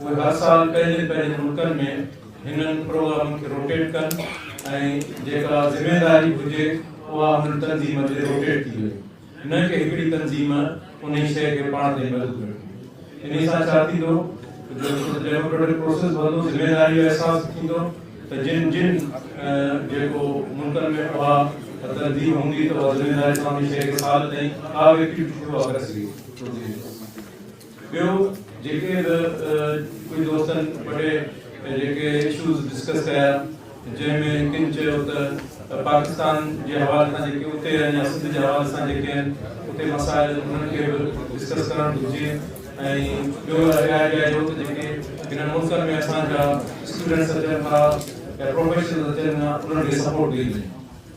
اهي هر سال پنهنجن پنهنجن ملڪن ۾ هنن پروگرامن کي روٽيٽ ڪن ۽ جيڪا ذميواري هجي اها انهن تنظيم تي روٽيٽ ٿي وڃي نه ڪي هڪڙي تنظيم انهي شيء کي پاڻ تي محدود رکي. انهي سان ڇا ٿيندو جو ڊيموڪريٽڪ پروسيس وڌندو، ذميواري جو احساس ٿيندو ته جن جن جيڪو ملڪن ۾ اها تنظيم هوندي ته اها ذميواري سان انهي شيء کي سال تائين ڪا به ايڪٽيوٽي ٿي اها ڪري سگهي. ٻيو جيڪي به ڪجهه دوستن وڏي جيڪي اشوز ڊسڪس ڪيا جنهن ۾ ڪن چيو ته پاڪستان جي حوالي سان جيڪي اتي آهن يا سنڌ جي حوالي سان جيڪي آهن اتي مسائل انهن کي به ڊسڪس ڪرڻ گهرجي ۽ ٻيو رائي به آيو ته جيڪي هنن ملڪن ۾ اسان جا اسٽوڊنٽس اچن ٿا يا پروفيشنلز اچن ٿا انهن کي سپورٽ ڏني وڃي.